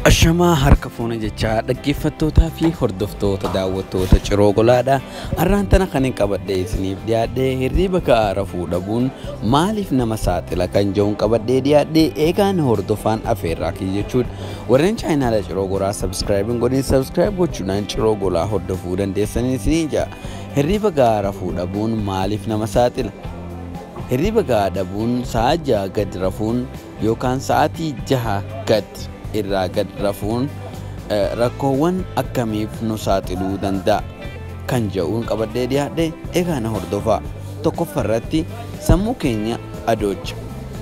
Ashamaa harka fuuna jechaa dhaggeeffattootaa fi hordoftoota daawwattoota ciroo golaadha. Arraan tana kan hin qabadhee isiniif dhiyaadhee hirriiba ka'aa rafuu dhabuun maaliif nama saaxila kan jedhuun qabadhee dhiyaadhee eegaan hordofaan afeerraa kiyya jechuudha. Warreen chaayinaala ciroo golaa sabskiraayib hin godhin sabskiraayib gochuudhaan ciroo golaa hordofuu dandeessanii isiniin ja'a. Hirriiba ka'aa rafuu dhabuun maaliif nama saaxila? Hirriiba ka'aa dhabuun sa'a ja'a gad rafuun yookaan sa'aatii 6 gad irraa gad rafuun rakkoowwan akkamiif nu saaxiluu danda'a kan jedhuun qabadhee dhiyaadhe egaa na hordofaa. Tokkoffaa irratti sammuu keenya adoocha,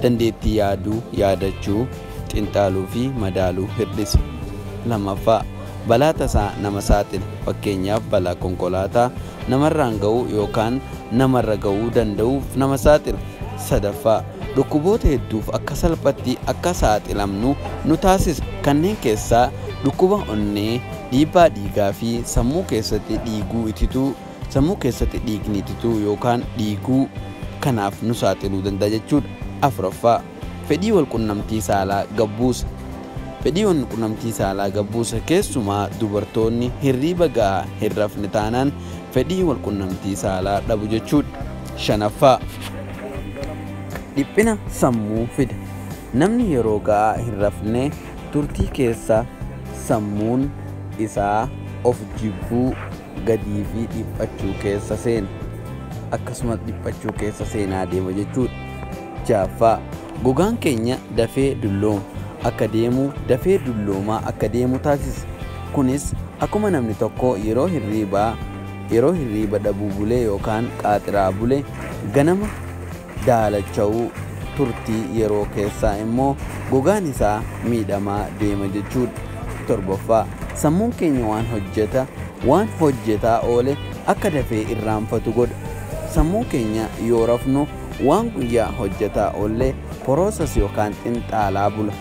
dandeettii yaaduu, yaadachuu, xinxaaluu fi madaaluu hir'isa. Lammaffaa balaa tasaa nama saaxila. Fakkeenyaaf balaa konkolaataa namarraan ga'uu yookaan namarra ga'uu danda'uuf nama saaxila. Sadaffaa dhukkuboota hedduuf akka salphatti akka saaxilamnu nu taasisa. Kanneen keessaa dhukkuba onnee, dhiibbaa dhiigaa fi sammuu keessatti dhiiguu itituu, sammuu keessatti dhiigni itituu yookaan dhiiguu, kanaaf nu saaxiluu danda'a jechuudha. 4ffaa. Fedhii walqunnamtii saalaa gad buusa. Fedhii walqunnamtii saalaa gad buusa, keessumaa dubartoonni hirriiba gahaa hin rafne taanaan fedhii walqunnamtii saalaa dhabu jechuudha. Shanaffaa. Dhiphina sammuu fida. Namni yeroo ga'aa hin rafne turtii keessa sammuun isaa of jibbuu, gadii fi dhiphachuu keessa seena. Akkasumas dhiphachuu keessa seenaa deema jechuudha. Jaaffaa. Gogaan keenya dafee dullooma akka deemu, dafee dulloomaa akka deemu taasisa. Kunis akkuma namni tokko yeroo hirriibaa yeroo hirriiba dhabuu bule yookaan qaaxiraa bule ganama daalacha'u turtii yeroo keessaa immoo gogaan isaa miidhamaa deema jechuudha. 7ffaa. Sammuun keenya waan hojjeta waan hojjetaa oole akka dafee irraanfatu godha. Sammuun keenya yoo rafnu Waan guyyaa hojjataa oolle process yookaan xinxaalaa bula.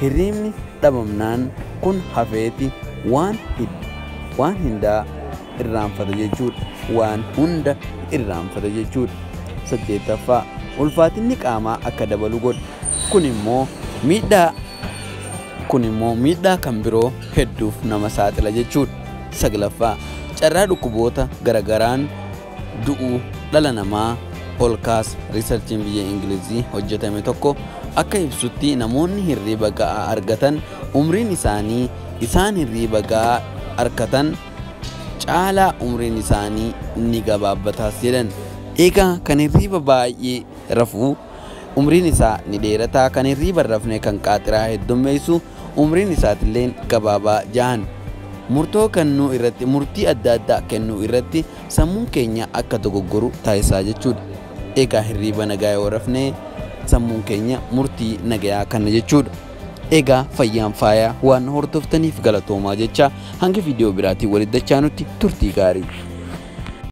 Hirriibni dhabamnaan kun hafeeti waan waan hindaa irraanfata jechuudha. Waan hunda irraanfata jechuudha. 8ffaa. Ulfaatinni qaamaa akka dabalu godha. Kun immoo miidhaa kun immoo miidhaa kan biroo hedduuf nama saaxila jechuudha. 9ffaa. Carraa dhukkuboota garagaraan du'u dhala namaa Olkaas riisarchiin biyya Ingiliizii hojjetame tokko akka ibsutti namoonni hirriiba ga'aa argatan umriin isaanii isaan hirriiba ga'aa arkatan caalaa umriin isaanii ni gabaabbataas jedhan. Egaa kan hirriiba baay'ee rafuu umriin isaa ni dheerata kan hirriiba hin rafne kan qaaxiraa heddummeessu umriin isaatilleen gabaabaa jahan. Murtoo kennuu irratti murtii adda addaa kennuu irratti Sammuun keenya akka dogoggoru taasisaa jechuudha. Eegaa hirriiba nagaa yoo rafnee sammuun keenya murtii nagayaa kanna jechuudha. Eegaa fayyaan faayaa waan na hordoftaniif galatoomaa jechaa hanga viidiyoo biraatiin walitti dachaanutti turtii gaarii.